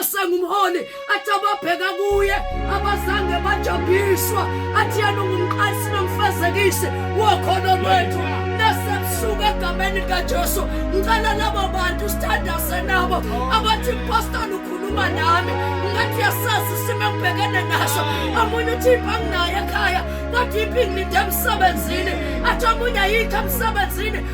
esengumholi athi ababheka kuye abazange bajabhiswa athi yena ungumqalisi nomfezekisi wokholo lwethu nasebusuku egameni likajesu ngicela labo bantu sithandaze nabo abathi impostoli ukhuluma nami ngathi yasazi isimo engibhekene naso omunye uthi iphi anginayo ekhaya kodwa iphi ngilinde emsebenzini athi omunye ayikho emsebenzini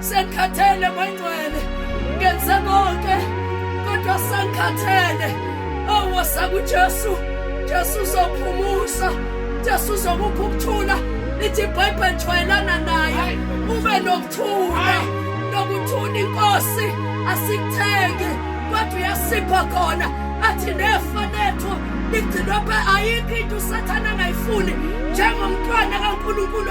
Sengikhathele mangcwele ngenze konke kodwa sengikhathele awuwasa kuJesu Jesu uzophumusa Jesu uzokupha ukuthula lithi iBhayibheli jwayelana naye ube nokuthula nokuthula inkosi asikuthenge kodwa uyasipha khona athi nefa lethu ligcinwe phe ayikho into usathane angayifuni njengomntwana kaNkulunkulu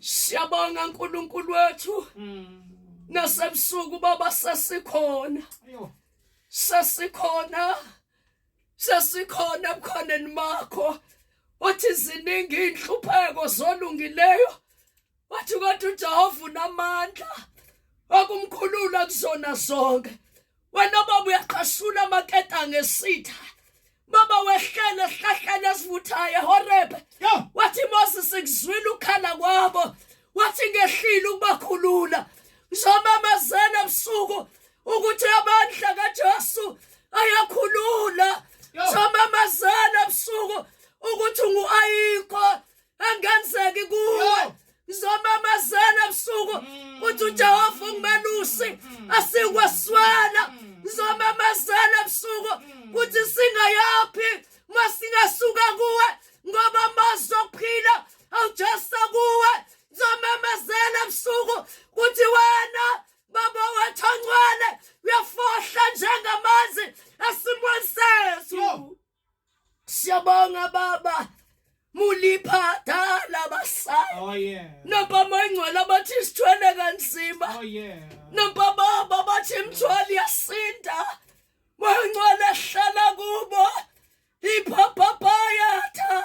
Siyabonga uNkulunkulu wethu. Mm. Nasebusuku baba sesikhona. Ayo. Sesikhona. Sesikhona ebukhoneni bakho. Wathi ziningi inhlupheko zolungileyo. Wathi kodwa uJehova unamandla. Wakumkhulula kuzona zonke. wena baba uyaqashula amaketa ngesitha baba wehlele esihlahleni esivuthayo ehorebe wathi moses ngizwile ukhala kwabo wathi ngehlile ukubakhulula ngizomamezela ebusuku ukuthi amandla kajesu ayakhulula ngizomamezela ebusuku ukuthi ungu-ayikho angenzeki kuwe ngizomamazela ebusuku mm. uthi uJehova ungimelusi mm. mm. asikweswela ngizomamazela ebusuku kuthi singayaphi masingasuka kuwe ngoba amazwi okuphila awujesa kuwe ngizomamazela ebusuku kuthi wena baba wethu ongcwele uyafohla njengamanzi esimweni sethu Siyabonga baba. Mulipha dala basaya. Oh yeah. Nababa ingcwele abathi sithwele kanzima. Oh yeah. Nababa babathi imthwali yasinda. Mangcwele hlala kubo. Ipha papaya tha.